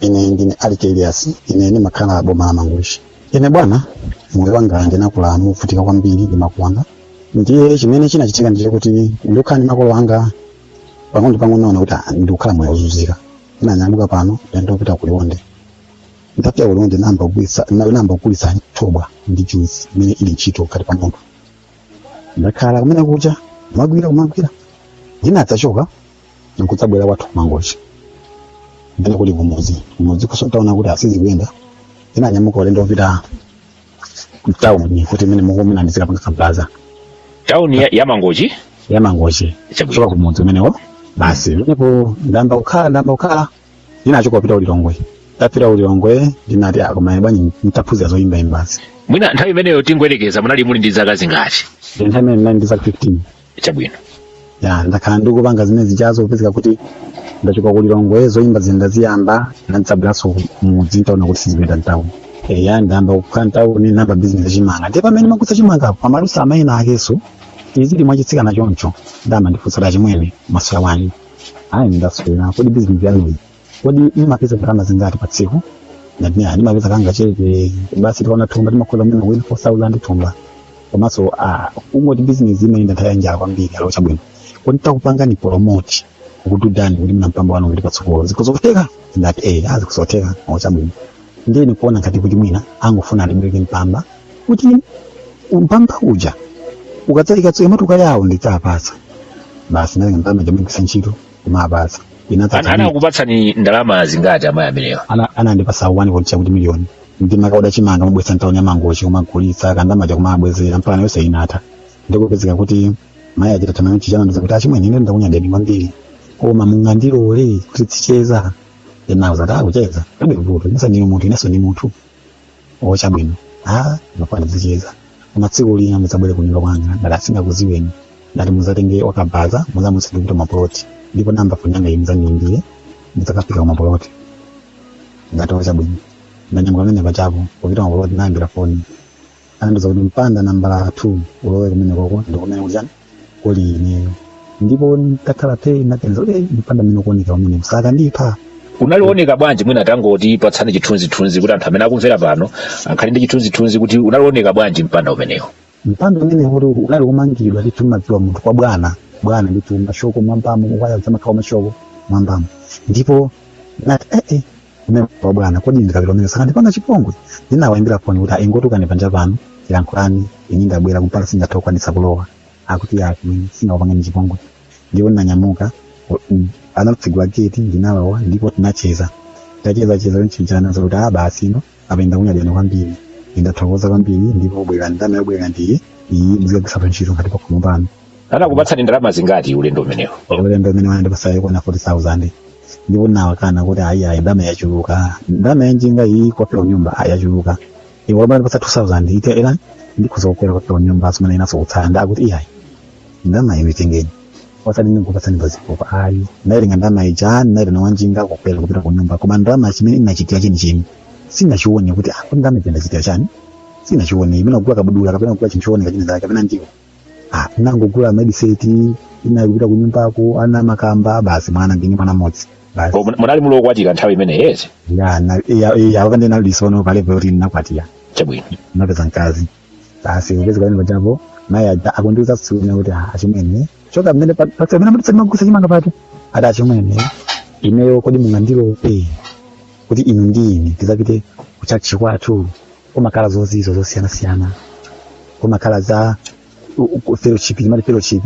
ine ndine alike iliyasi ine ndimakhala boma la mangochi ine bwana moyo wanga ndinakula movutika kwambiri ndi makolo anga ndiye chimene chinachitika ndi choti ndikukhala ndi makolo anga pang'ono pang'ono ndinaona kuti ah, ndikukhala moyo wozunzika ndinanyamuka pano ndi- ndinapita ku liwonde ndapita ku liwonde ndinayamba kugwiritsa ndina- ndinayamba kugulitsa thobwa ndi juice imene ili ntchito kwa pa munthu ndakhala kumene kuja kumagwira kumagwira ndinadzachoka nkudzabwera kwathu kumangochi ndiye kuli kumudzi kumudzi kunso ntaona kuti sizikuyenda ndinanyamuka ulendo wopita mtawuni kuti imene mukumina ndizikapanga kabaza tauni ya, ya mangochi yamangochi Chabwino. kuchoka kumudzi kumeneko basi ndipo ndamba kukhala ndamba kukhala ndinachoka kupita ulilongwe ntapita ulilongwe ndinati ah komaye bwanji nditaphunzira zoyimba imbazi mwina nthawi imeneyo tingoyerekeza kuti munali muli ndi zaka zingati nthawi imeneyo ndinali ndi zaka 15 chabwino ya ndakhala ndikupanga zimene zijazo kupezeka kuti ndachoka kulilongwe zoyimba zina ziyamba ndadzabweranso mudzi ntaona kuti sizipita mtauni eya ndayamba kukhala mtauni namba bizinesi chimanga ndiye pamene ndimagulitsa chimanga panatulukira amayi enaake oti ali mwachitsikana choncho ndiye amandifunsa chimwene mwaswera bwanji ayi ndaswera kodi bizinesi yanuyi kodi mumapeza ndalama zingati pa tsiku ndati ayi ndimapeza kangachepe basi tikaoda thumba timakhoza mwina kuwina 4000 thumba komanso ah, kungoti bizinesi imene ndataya njala kwambiri ali chabwino kodi titakupangani promote kukubudani kuti mwina mpamba wanu kuti patsogolo zitukuke zotheka ndati eh ndi zotheka ali chabwino ndiye ndikuona ngati kuti mwina angofuna andibwereke mpamba kuti mpamba uja ukadzalikatsoka imati ukali awo ndidzapatsa basi natenga ndalama ija kumagwiritsa ntchito kumapatsa An- inadzaa anakupatsani ndalama zingati amayi amenewa anandipasa 1.2 kuti miliyoni ndi ndimakaoda chimanga ndimabweretsa ntawuni ya mangochi kumagulitsa ka ndalama kaja kumabwezera mpaka nayo sayinatha ndikupezeka kuti mayi aja atamaliza anandiuza kuti achimwene ine ndakunyadeni kwambiri koma mungandilole kuti tizicheza ine ndati ah kucheza palibe vuto inunso ndinu munthu inenso ndi munthu o chabwino a mafuna tizicheza koma tsiku lina mudzabwere kunyumba kwanga ndati ah sindingakudziweni ati mudzatenge wakabaza mudzamuuze kuti mapoloti ndipo nambala foni yanga iyi mudzandiimbire mudzakafika kumapoloti ndati o chabwino ndanyamuka pamene paja kupita kumapoloti nawaimbira foni anandiuza kuti mpanda nambala 2 ulowe kumeneko ndikumene kuti chani kuli ineyo ndipo ndakhala phe ndinaganiza kuti "Eh, mpanda mmene ukuoneka umenewu sakandipha unali woneka bwanji mwina tangotipatsani chithunzithunzi kuti anthu amene akumvera pano akhale ndi chithunzithunzi kuti unkaoneka bwanji mpanda umenewu mpanda umenewo unali womangidwa ndithu umadziwa munthu kwa bwana bwana ndithu mashoko mwambamo mawaya zamakhawa mashoko mwambamo ndipo nati ee kumene kwa bwana kodi ndikapita kumene sakandipanga chipongwe ndinawaimbira foni kuti ingotulukani panja pano tilankhulane ine ndabwera kumpanda singathe kukwanitsa kulowa akuti ya kumene singakupangeni chipongwe ndipo ndinanyamuka anatsegula geti ndinalowa ndipo tinacheza tacheza cheza kunchinjana zakuti a basi ino apenda kunyadana kwambiri ndathokoza kwambiri ndipo bwera ndalama yobwerera ndiye iyi muzikagwiritsapo ntchito ngati pakhomo pano anakupatsani ndalama zingati ulendo umenewo ulendo umenewo anandipasa yokwana 40000 ndipo nawakana kuti ayi ayi ndalama yachuluka ndalama yanjinga iyi kupita kunyumba ayi yachuluka iwe abwana ndipasa 2000 ite era ndikhoza kukwera kupita kunyumba asumana inaso kutsala ndakuti iyayi ndalama iyo itengeni osati ndikupatsani pazifukwa ayi ndayitenga ndalama ija ndayitenga wanjinga kukwera kupita kunyumba koma ndalama chimene inachitira chenicheni sinachione kuti ah kuti ndalama ija ndachitira chani sinachione imene kugula kabudula kapena kugula chinthu chooneka china chake kapena ndiwo ah, nangogula mabisiketi inali kupita ku nyumbako ana makamba basi mwana ndili ndi mwana mmodzi basi Oh, mun- munali muli okwatira nthawi imeneyi eya na- ya- ya wakandi nali lisono pale poti ndinakwatira chabwino napeza mkazi basi upezi kwaene pachapo mayi aja akundiuza tsiku lina kuti "Ah, achimwene choka mmene pa- pa- pamene mutisa magulitsa chimanga pati ati achimwene ineyo kodi mungandilole kuti inu ndi ine tizapite kuchachi kwathu kumakhala zozizwa zosiyanasiyana kumakhala za u- u- fellowship imati fellowship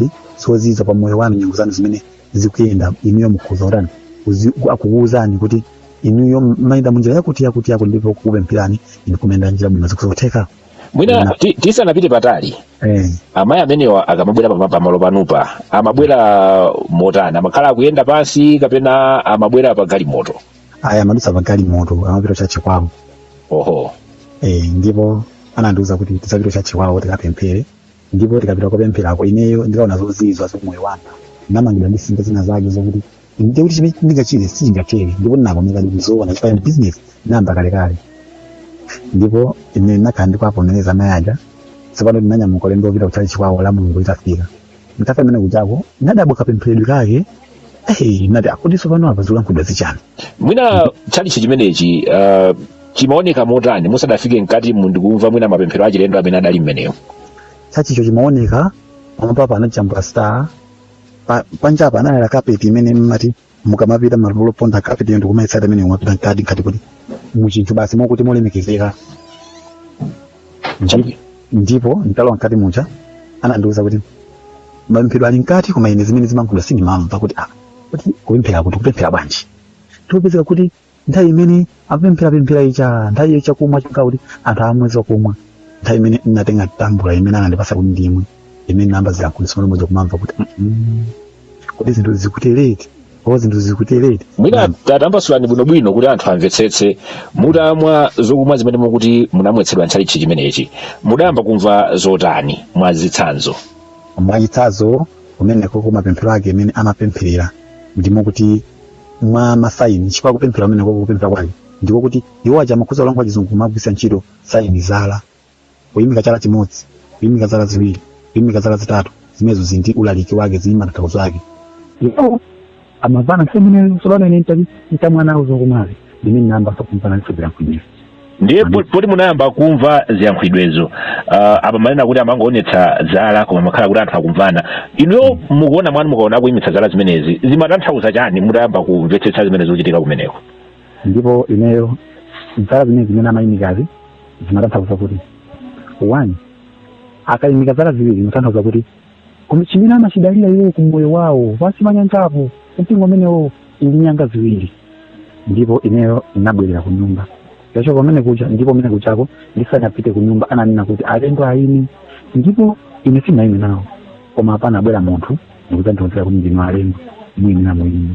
zozizwa pa moyo wanu nyengo zanu zimene zikuyenda inuyo mukhuza utani uzi- ku- akukuwuzani kuti inuyo mumayenda munjira yakuti yakuti yakuti ndipo kukupempherani inu kuyenda njira bwino ndizotheka mwina ti- tisanapite patali eh. amayi amenewa akamabwera pama- pamalo panupa amabwera motani amakhala akuyenda pansi kapena amabwera pa galimoto ayi amadutsa pagalimoto amapita cha chikwawo oho eh, ndipo anandiuza kuti tizapite cha chikwawo tikapemphere ndipo tikapita kopempherako ineyo ndikaona zozizwa za moyo wanga ndamangidwa ndi simba zina zake zokuti ndiye kuti chimene ndingachite sichingatheke ndipo ndinavomera ndizoona chifukwa ndi business nayamba kalekale ndipo ine ndinakhala ndikuwavomereza amayi aja tsopano ndinanyamuka ulendo wopita kutchalitchi kwawo la mulungu litafika nditafika kumene kujako ndadabwa kapempheredwe kake eyi nati akutiso pano apa zikulankhulidwa zichani mwina tchalichi chimenechi uh, chimaoneka motani musadafike mkati mu ndikumva mwina mapemphero achilendo amene adali mmenewo chachicho chimaoneka pamwambapa anajambula star pa- panjapa anayala kapeti imene mumati mukamapita malo oponda kapeti ndi kumayesera amene umapita mkati mkati kuti muchinthu basi mokuti molemekezeka Ndi- ndipo nditalowa mkati muja anandiwuza kuti mapemphero ali mkati koma ine zimene zimalankhulidwa sindimamva kuti ah kuti kupemphera kuti kupemphera bwanji tikupezeka kuti nthawi imene akupempherapemphera icha nthawi iyo chakumwa chonka kuti anthu amwe zokumwa nthawi imene ndinatenga kambula imene anandipasa kuti ndimwe imene ndinayamba ziyankhulidwe za mwana mmodzi kumamva kuti Mm, kodi zinthu zikutereti o zinthu zikutereti mwina tatambasulani bwinobwino kuti anthu amvetsetse mutamwa zokumwa zimene mukuti munamwetsedwa ntchalichi chimenechi mudayamba kumva zotani mwa zitsanzo mwachitsanzo kumeneko kumapemphero ake imene amapempherera ndimo kuti mwa masaini chifukwa kupemphera kumene kwa kupemphera kwake ndiko kuti iwo aja amakhoza kulankhula chizungu kumagwiritsa ntchito saini zala kuyimika chala chimodzi kuyimika zala ziwiri kuyimika zala zitatu zimenezo zili ndi ulaliki wake zili ndi matanthauzo ake iwo amamvana nthawi imeneyo tsono ine nditamwa uzungu mwazi ndi mmene ndinayamba sokumpana ndisoberankhulira ndiye po- poti munayamba kumva ziyankhulidwezo uh, apa mmanena kuti amangoonetsa zala koma mmakhala kuti anthu akumvana inuyo mukuona mwanu mukaona akuimitsa zala zimenezi zimatanthauza chani mutayamba kumvetsetsa zimene zikuchitika kumeneko ndipo ineyo zala zimene zimene amayimikazi zimatanthauza kuti one akayimika zala ziwiri zimatanthauza kuti Koma chimene amachidalira iwo ku moyo wawo pansi pa nyanjapo, mpingo umenewo uli ndi nyanga ziwiri. Ndipo ineyo ndinabwerera ku nyumba. Ntachoka kumeneko kuja, ndipo kumeneko kujako ndisanapite ku nyumba ananena kuti alendo ayime, ndipo ine sindinayime nawo. Koma apo panabwera munthu ndikudzandiuza kuti ndinu alendo, muyenera muyime.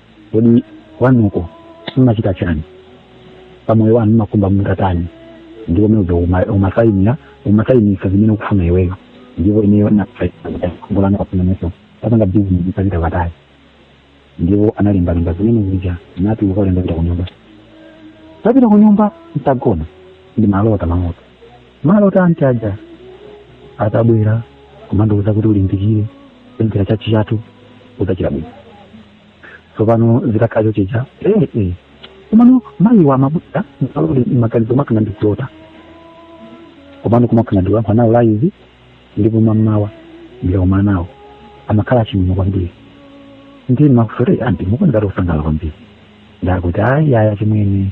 kodi kwanuko mmachita chani pamoyo wanu mmakhumba mutatani ndipo meza umasaimira umasaimisa zimene ukufuna iweyo ndipo ineyo ndimakhumba ndikufunanso ntapanga bizinesi ntapita patali ndipo analembalemba zimene zija ndatuluka ulendo kupita kunyumba ntapita kunyumba ntagona ndi malota malota malota anthu aja atabwera kumandiuza kuti ulimbikire kupemphera tchalitchi chathu udzachira bwino tsopano zitakhala choncho chija eh, eh. komano mayi wa mabuda msalole maganizo mmakhala ngati ndikulota komano kumakhala ndikulankhula nawo laizi ndipo mammawa ndikakumana nawo amakhala achimwemwe kwambiri ndi makusole amati mukuoneka kuti kusangalala kwambiri ndakuti ayi ayi achimwene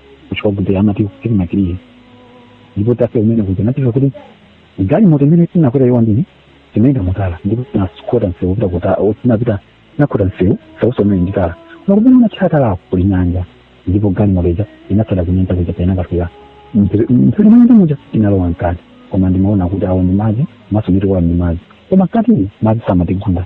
kuchokwa kuti amati silinakiliye ndipo tafika kumeneko kuti anatiuza kuti galimoto imene tinakwera ija ndiye tinayenda mu tala ndipo tinakhota msewu kupita kuta o, tinapita tinakhota msewu sauso umene ndi tala koma kumene unatchera talako kuli nyanja ndipo galimoto ija inatsala kunyanja kuja itakafika mphepete mwanyanja muja inalowa mkati koma ndimaona kuti awo ndi madzi maso tikuona ndi madzi koma mkati madzi samatigunda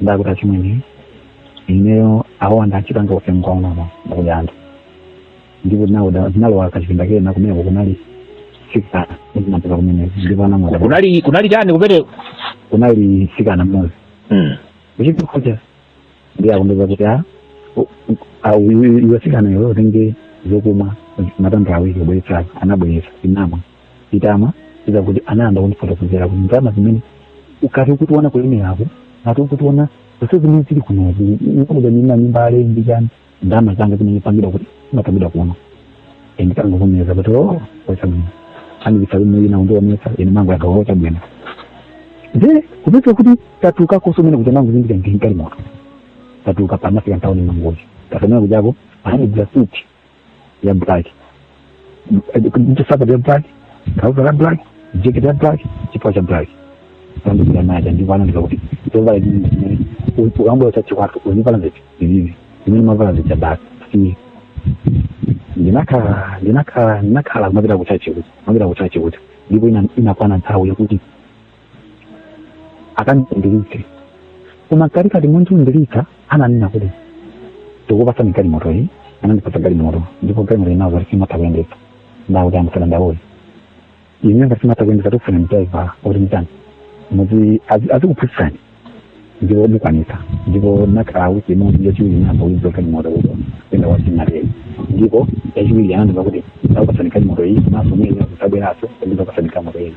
ndakuti achimwene ineyo awo andachita ngofe nkunama ndakuja anthu ndipo tinauda tinalowa kuchipinda kena kumeneko kunali mtsikana ndinapeza kumene ndipo anamwada kunali kunali chani kumeneko kunali mtsikana mmodzi Mm. uchipi kuja ndiye akundiuza kuti a u- u- a- u- iwe mtsikana iwe utenge zokumwa matambula awiri ubweretsayo anabweretsa ndinamwa nditamaliza kuti anayamba kundifotokozera kuti ndalama zimene ukati ukutiona kulemeraku ngati ukutiona zonse zimene zili kunozi ndikuda nyumba nyumba ale ndi chani ndalama zanga zimene pangidwa kuti imapangidwa kuno ndinangovomereza kuti o chabwino andibisa kumene ina undionesa ine mangu yagawa chabwino nde kupeza kuti tatuluka konse mmene kuti mangu zindika ndinkali moto tatuluka panafika ntaoni mangozi tasamena kujako anandigulira suti ya black ndi nsapato ya black trouser ya black jacket ya black chipewa cha black andikira nacho ndipo anandiuza kuti zovala chimene chimene ukangoyo cha chikwatu uzivala ziti zivivi zimene mumavala zija basi si ndinakhala ndinakhala ndinakhala kumapita kuchachi kuti kumapita kuchachi kuti ndipo ina- inakwana nthawi yakuti akandiyambiritse koma kali kati mondiundilika ananena kuti tikupatsani galimoto iyi anandipatsa galimoto ndipo galimoto inawo ndati sindimatha kuyendetsa ndakuti amsana ndawoyi ine ngati simumatha kuyendetsa tikufuna mtaivala kuti mtani muti azikuphunzitsani ndipo ndikwanitsa ndipo nakhala wiki imodzi yachiwiri ndinayamba kuiza galimoto kuto kuyenda kwa sinateni ndipo yachiwiri anandiuza kuti ndakupatsani galimoto iyi maso mwina kusabweranso ndidzakupatsani galimoto ina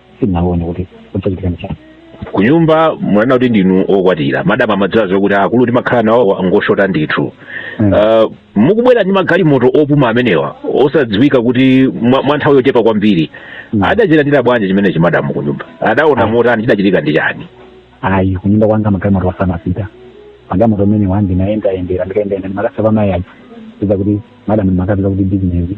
sinaone kuti kudzachitika ndi chani kunyumba munanena kuti ndinu okwatira madam amadziwa zokuti akulu timakhala nawo ngoshota ndithu Mm. Ah, mukubwera ndi magalimoto opuma amenewa osadziwika kuti mwa mwa nthawi yochepa kwambiri Mm. adachilandira bwanji chimenechi madamu kunyumba adaona motani chidachitika ndi chani ayi kunyumba kwanga magalimoto samapita magalimoto amene ndinayendayendera ndikayendayenda ndimakasiya mayi aja iza kuti madam ndimakapita kuti bizinesi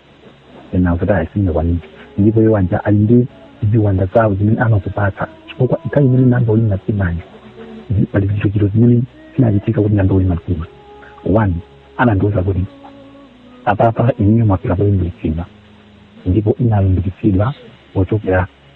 ena akuti ayi singakwanitse ndipo iwo aja ali ndi ziwanda zawo zimene amazipatsa chifukwa nthawi imene namba ulimba mtimayo zi- pali zichitochito zimene zinachitika kuti namba ulimba mtima one anandiwuza kuti apapa inuyo mwafika poyambiritsidwa ndipo ndinalimbikitsidwa pochokera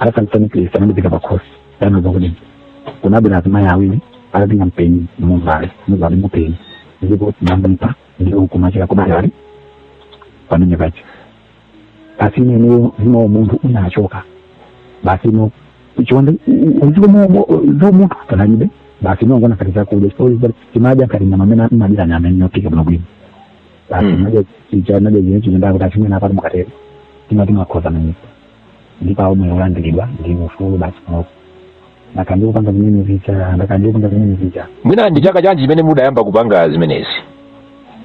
adatangitsani kristu anamuzika pakhosi anauza kuti kunabwera azimayi awiri atatenga mpeni muvale muvale mupeni ndipo tinambipa ndipo kumachira kumadali pamene paja basi ineneyo zima umunthu unachoka basi no chiwanda zomunthu panalibe basi nongoona ngati zakudya chimadya ngati nyama amene imadira nyama yophika bwinobwino basi Mm. naja chicha naja zine chipinda kuti achimene amati mukatero timati makhoza manyika ndipo awo omwe ulandiridwa ndi ufulu basi panopo ndakhala ndikupanga zimene zija ndakhala ndikupanga zimene zija mwina ndi chaka chanji chimene mudayamba kupanga zimenezi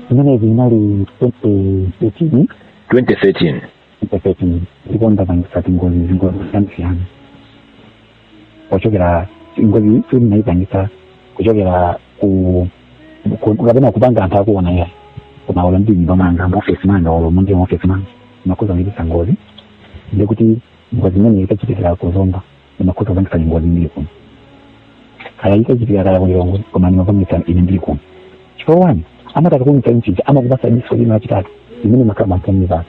zimenezi inali 2013 2013 mpepeti ndipo ndapangisa tingozi zingozi zosiyana-siyana kuchokera ngozi tsiku ndinayipangisa kuchokera ku ku- kapena kupanga anthu akuona ya koma olo ndi nyumba manga muofesi manga olo mundi muofesi manga ndimakhoza kupangitsa ngozi ndikuti ngozi imene ikachitikira kuzomba ndimakhoza kupangitsa ngozi ndili kuno kaya iko chipika kaya ku Lilongwe koma ndimapangitsa ine ndili kuno chifukwa chani amati akakumitsa mchija amakupasa diso lina lachitatu limene limakhala pamphumi pano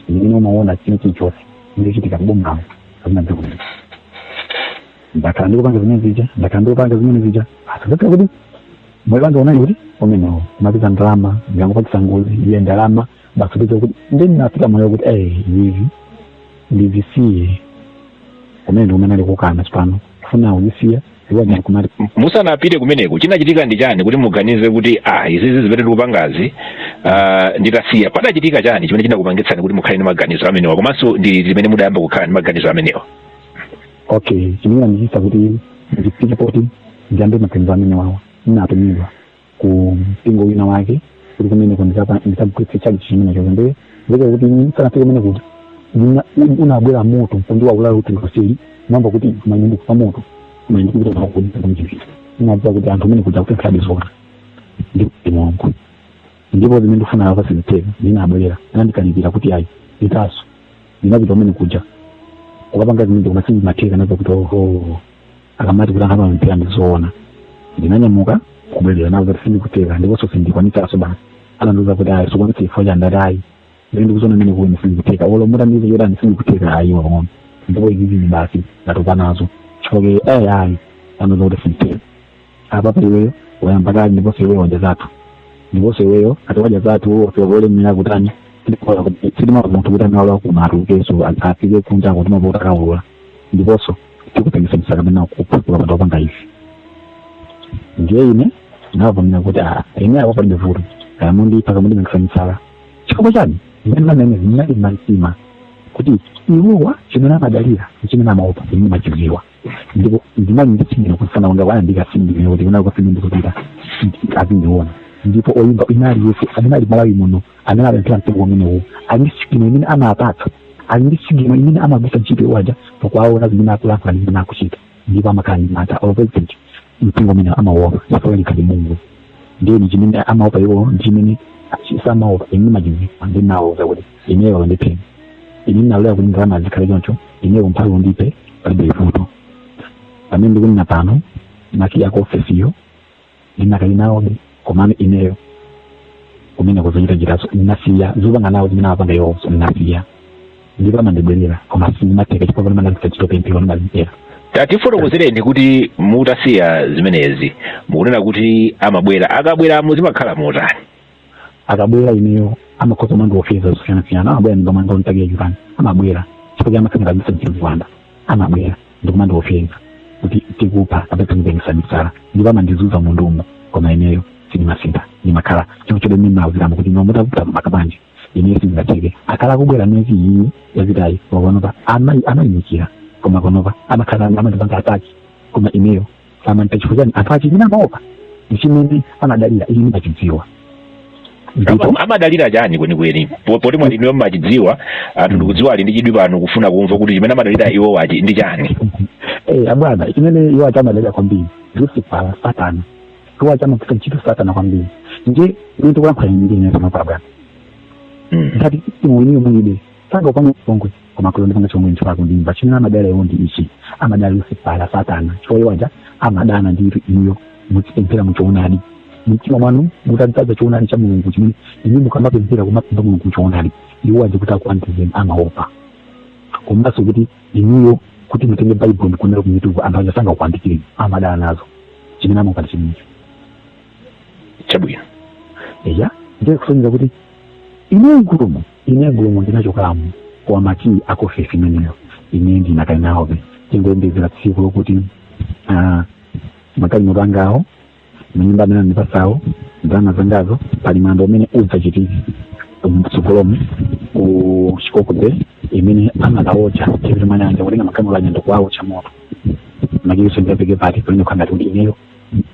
limene umaona china chilichonse chikuchitika kubombawo kapena dziko lino ndakhala ndikupanga zimene zija ndakhala ndikupanga zimene zija asazakhala kuti moyo wanga unali kuti umenewo ndimapeza ndalama ndikangopangitsa ngozi iye ndalama basi ndizo kuti ndi ndinafika moyo kuti eh izi ndizisiye kumene ndi kumene alikukana tsopano kufuna kuzisiya iwo ndi kumati musanapite kumeneko chinachitika ndi chani kuti muganize kuti ah izi zizi zimene ndikupangazi ah, nditasiya padachitika chani chimene chinakupangitsani kuti mukhale ndi maganizo amenewa komanso ndi liti limene mudayamba kukhala ndi maganizo amenewa okay chinandichitisa kuti ndifike poti ndiyambe maganizo amenewawa ndinatumidwa ku mpingo wina wake kuti kumeneko ndikapa- ndikagwiritse tchalitchi chimenecho ndiye zikati kuti ndisanafike kumeneko kuti ndina- un- unabwera moto mpundiwa kulala kuti ndikasiri mwamba kuti kumene ndikufa moto kumene ndikupita nawo kuoneka kumchipita ndinadziwa kuti anthu amene kuja kuti alidi zoona ndikuti mulungu ndipo zimene ndifuna apa sizitheka ndinabwerera anandikalipira kuti ayi nditaso ndinapita kumene kuja ukapanga zimene koma sindimatheka nazo kuti oho akamati kuti anthu amapemphera ndizoona ndinanyamuka kubwerera nawo kuti sizikutheka ndiponso sindikwanitsanso basi anandiuza kuti ayi sukwanitsa chifukwa cha ndati ayi ndiri ndikuziona mmene kwa ine sizikutheka olo mutandiuza chotani sizikutheka ayi wang'ono ndipo izizini basi ndatopa nazo chifukwa chake ayi ayi anandiuza kuti sizitheka apa pa iweyo wayamba kale ndiponso iweyo wadya zathu ndiponso iweyo ati wadya zathu ofika kulemera kutani sitimafuna munthu kuti amene walakumatu keso afike kunja kuti amapita akaulula ndiponso tikupangisa misala kapena kupha ukapanda kupanga izi ndiye ine ndavomera kuti a ine apo palibe vuto kaya mundipha kaya mundipangisa misala chifukwa chani imene mamene ndinali mtima kuti iwowa chimene amadalira chimene amaopa ine ndimachiziwa ndipo ndinali nditsinira kufana wanga waya ndikasindiwe kuti kunako sindikupita azindiona ndipo oyimba inali yesu amene ali malawi muno amene apemphera mtengo umenewu ali ndi sigino imene amapatsa ali ndi sigino imene amagwiritsa ntchito iwaja pakuwaona zimene akulankhula ndi zimene akuchita ndipo amakhala ndi mata opezent mpingo umene amaopa chifukwa likhale mulungu ndiye ni chimene amaopa iwo ndi chimene samaopa ine ndimachidziwa ndinawauza kuti ineyo ndiphe ine nalolera kuti ndalama zikhale choncho ineyo mphawi ndiphe palibe vuto pamene ndikunena pano makiyi a ku ofesiyo ndinakali nawobe komano ineyo kumene ku zochitachitazo ndinasiya zopanga nawo zimene amapanga iwonso ndinasiya ndipo amandibwerera koma sizimatheka chifukwa pamene ndagwiritsa ntchito pemphero ndimazipera tatifotokozereni kuti mutasiya zimenezi mukunena kuti amabwera akabwera mu zimakhala motani akabwera ineyo amakhoza kumandiopseza zosiyanasiyana amabwera mnyumba mwanga wokiya chipani amabwera chifukwa chamakhalira kobisa mwachiziwanda amabwera ndikumandiopseza kuti tikupha kapena tikupengetsa misala ndipo amandizunza munthumu koma ineyo sindimasintha ndimakhala chonchobe mmene ndinawauziramo kuti ine zitavuta maka nje ineyo sindingatheke akhala akubwera miyezi iyi yapitayi pakanopa amayi amayimikira koma pakanopa amakhala amandipanga ataki koma ineyo samanditha chifukwa chani anthu achimene amaopa ndi chimene amadalira ine ndimachidziwa ndipo Ama- amadalira chani kwenikweni Po- poti mwa inuyo mmachidziwa anthu ndikudziwa ali ndi chidwi pano kufuna kumva kuti chimene amadalira iwowa ndi chani eh abwana chimene iwo aja amadalira kwambiri ndi lusifala satana iwo aja amagwira ntchito ya satana kwambiri ndiye ine tikulankhula ndine panopa abwana Mm. ngati imuwiniyo mulibe sanga upanga mpongwe koma kulo ndipanga chomwe nthu wako ndimva chimene amadalira iwo ndi ichi amadalira lusifala satana chifukwa iwo aja amadana nditu inuyo mukupemphera muchoonadi mtima mwanu mutadzadza choonadi cha mulungu chimene inu mukamapemphera kumapempha mulungu choonadi iwo aja kuti akuyandikireni amaopa komanso kuti inuyo kuti mutenge baibulo ndikunena kumituku anthu aja sangakuyandikireni amadana nazo chimene amapanga chimenecho chabwino eya ndiye kusonyeza kuti ineyo mgulumu Ine mgulumo ndinachokamo koma makiyi a ku ofesi imeneyo ine ndinakali nawobe ndikungoyembekezera tsiku lokuti ah, magalimoto angawo manyumba amene anandipatsawo ndalama zangazo pali mwambo umene udzachitike mtsogolomu ku chikoko bay imene amakawocha si pajatu munamva kutenga magalimoto anyando kuwawocha moto makiyinso ndiapereke pati pamene kukhala ngati kuti ineyo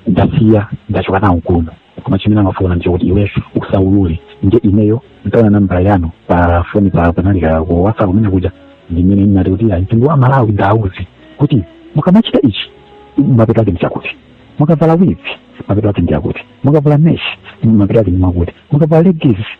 ndasiya ndachoka nawo kuno koma chimene amafuna nchakuti iweyo usaulule nde ineyo ntaona nambala yanu pa foni pa panalika ku whatsapp kumene kuja ndimene ndinati kuti ayi mtundu wa malawi ndiwauze kuti mukamachita ichi mapeto ake ndichakuti mukavala wigi mapeto ake ndichakuti mukavala meshi mapeto ake ndichakuti mukavala legisi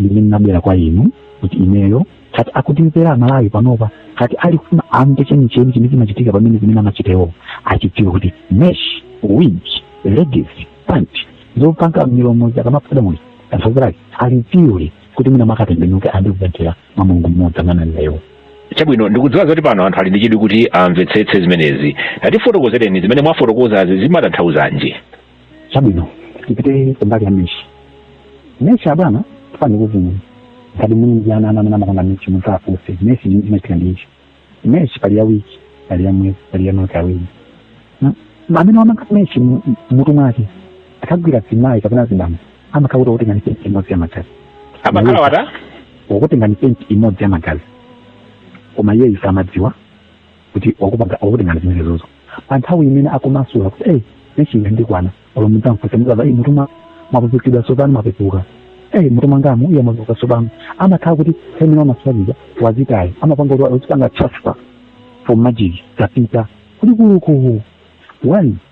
limene linabwera kwa inu kuti ineyo kati akutimvera amalawi panopa kati alifuna amve chenicheni chimene chimachitika pamene zimene amachitazo achidziwe kuti mesh wig legacy pant zopanga milomo zikhadabo munthu tanthauzo alidziwe kuti mwina akatembenuke ayambe kupemphera mwa mulungu mmodzi amene ananewo chabwino ndikudziwa zoti pano anthu ali ndi chidwi kuti amvetsetse zimenezi tatifotokozereni zimene mwafotokozazi zimatanthauzanji chabwino tipite kumbali ya meshi meshi abwana tufuni kuziwa ngati muli ndi ana ana amene amakonda meshi muzafunse meshi chimachitika ndi ichi meshi pali ya wiki pali ya mwezi pali ya zaka ziwiri M- amene wamanga meshi mu- mu- mutu mwake akagwira mzimayi kapena mzibambo amakakhala akutengani painti imodzi ya magazi amakhala wakutengani painti imodzi ya magazi koma iyeyu samadziwa kuti wakupanga akutengani zimenezozo pa nthawi imene akumasula kuti ei meshi yandikwana olo mudzamfunse mukamva m'mutu mwapepukidwa tsopano mwapepuka ei m'mutu mwangamu yee mwapepuka tsopano amakhala kuti zimene wamasula zija wazitayo amapanga kuti uzipanga transfer for magic zapita kulikuluku one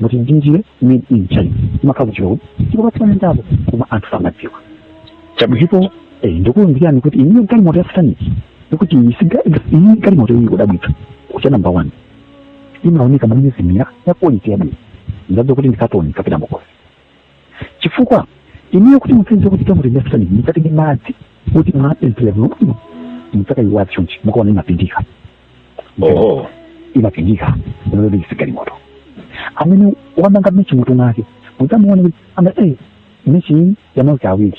ngati ndi njinga made in china imakhala ku China kuti ndikapatsanendapo koma anthu samadziwa chabwino eh, ndikuuzirani kuti ineyo galimoto ya sataniki ndikuti iyi siga- iyi galimoto iyi kudabwitsa kwake namba one imaoneka monyezimira ya quality yabwino ndadza kuti ndikatoni kapita mukosi chifukwa inuyo kuti mupeze kuti tamuti ndafitani mukati ndi madzi kuti mwapemphera bwino bwino mudzakayitswa chonchi mukaona imapindika oho imapindika lolobiki sigalimoto amene wamanga meshi m'mutu mwake mudzamuona kuti anga e meshi iyi yamauti awiri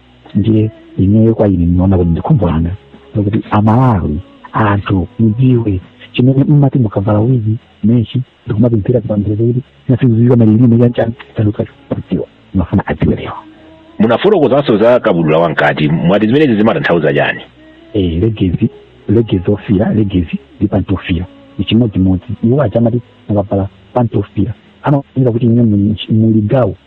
ndiye ineyo kwa ine ndinaona kuti ndikhumbo langa lokuti amalawi anthu mudziwe chimene mumati mukavala wigi meshi ndikumapemphera kupemphera kuti simunaziziwa malilime chanchani sanakadziwa ndimafuna adziwe lero munafotokozanso za kabudula wamkati mwati zimenezi zimatanthauza chani eh, legezi legezi ofira legezi ndi pantofira ichimodzimodzi iwo aja amati mukavala pantofira amafunira kuti ine muli gawo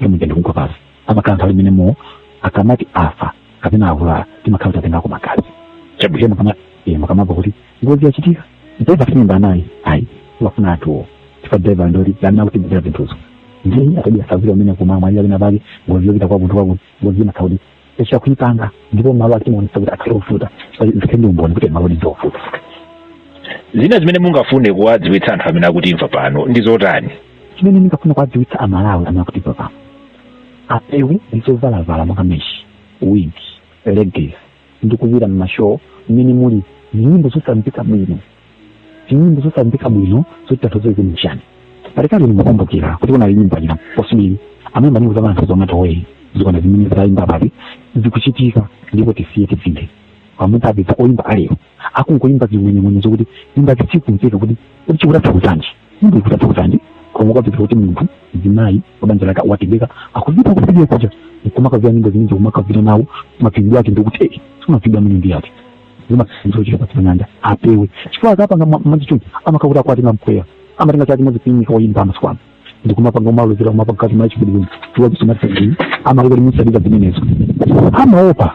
pamene ikugwa pansi amakhala nthawi imeneyo akamati afa kapena avulala timakhala tatengako magazi chabwino mukama eh, mukamamva kuti ngozi yachitika driver simumamva naye ayi wafa nawo chifukwa driver ndoli amene akutigwira zinthuzo ndiye atabira savira amene kumamwa iye amene apake ngozi yopita kwakuti kwakuti ngozi imatha kukhala kuti tatha kuipanga ndipo malo ake timaonesa kuti akhale ovuta zikhale ndi umboni kuti malo ndi ovuta zina zimene mungafune kuwadziwitsa anthu amene akutimva pano ndi zotani chimene ndingafuna kuwadziwitsa amalawi amene akutimva pano apewe ndi zovala monga meshi wig leggings ndi kupita m'mashow mmene muli nyimbo zosamveka bwino nyimbo zosamveka bwino zotanthauza zina chani pakati ndimakumbukira kuti kunali nyimbo ina posibili amene nyimbo za anthu zomwe toweyi zikona zimene zitayimba pati zikuchitika ndipo tisiye tisinthe pamene apedza oyimba a lero akungoyimba zimwenemwene zokuti imba zisikumveka kuti kuti chikutatha kutanji sindikutatokozani koma ukapeza kuti munthu mzimayi wabanja lake watengeka akupita kusidia kuja nkumakavira nyimbo zimene zikumakavira nawo mapindu ake ndikuti eh simapindu amene ndi ake zimasinzo chifukwa chimanyanja apewe chifukwa akapanga ma- masatanic amakakuti akwatenga mpweya amatenga chati mazipinyika woyimba amasikwano ndikumapanga umalozera kumapanga kati machikudiwini chifukwa chisomatisaiii amakuti musadika zimenezo amaopa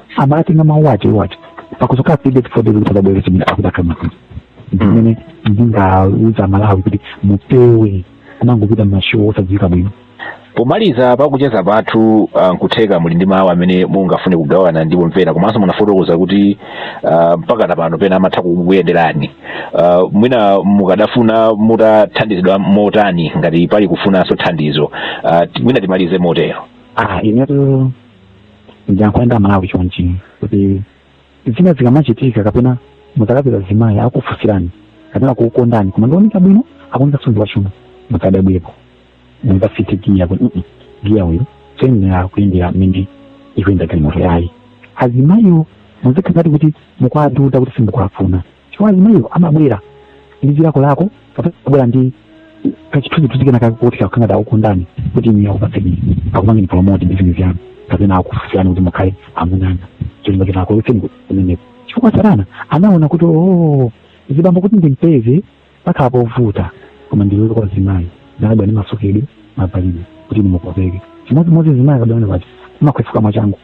amatenga mawu ache wache pakudzoka pide tifodele kuti adabwere chimene akufuna maka ndimene ndingauze Amalawi kuti mupewe kumangopita m'mashow osadziwika bwino pomaliza pakucheza kwathu ah, nkutheka muli ndi mawu amene mungafune kugawana ndi omvera komanso munafotokoza kuti ah, mpaka na pano pena amatha kukuyenderani Ah, mwina mukadafuna mutathandizidwa motani ngati pali kufunanso thandizo Ah, ti- mwina timalize motero ah inetu ndiyankhule nawo Amalawi chonchi kuti zina zikamachitika kapena muzakapeza mzimayi akufusirani kapena kukukondani koma ndi ooneka bwino akuoneka mtundu wachuma muzadabwepo muzasinthe giya kuti "Mm-mm, giya uyu sayenera kuyendera mmene ikuyenda galimoto yayi azimayiwo muzikhala ngati kuti mukuwadoda kuti simukuwafuna chifukwa azimayiwo amabwera ndi zilakolako kapena amabwera ndi kachithunzithunzi kena kake kuti kakukhala kuti akukondani kuti iye akupatseni akupangeni promote ndi zinthu zanu kapena akufunsirani kuti mukhale amuna anga cholinga choti akuletseni kumene chifukwa satana anaona kuti oo azibambo kuti ndimpeze pakhala povuta koma ndilowe kwa mzimayi ndakabwera ndi masukidwe mavalidwe kuti ndimukopeke chimodzimodzi mzimayi akabwera pati umakwefuka mwachangu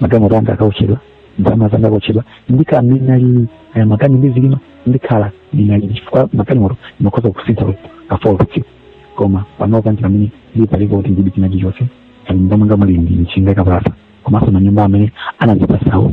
magalimoto anga akaotchedwa ndalama zanga akaotchedwa ndikhala mmene ndinalili ayi makani ndizilimba ndikhala ndinalili chifukwa magalimoto ndimakhoza kusintha kafolo patsiku koma panopa ndi pamene ndili palibe kuti ndili china chilichonse ayi mnyumba mwanga muli ndi njinga yakapalasa komanso manyumba amene anandipatsawo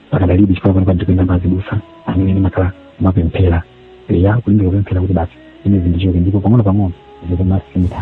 pakadalibe chifukwa pano ndikupita kwa azibusa amene ndimakhala m'mapemphero eya kulimbika kupemphera kuti basi ine zindichoke ndipo pang'ono pang'ono zikumasintha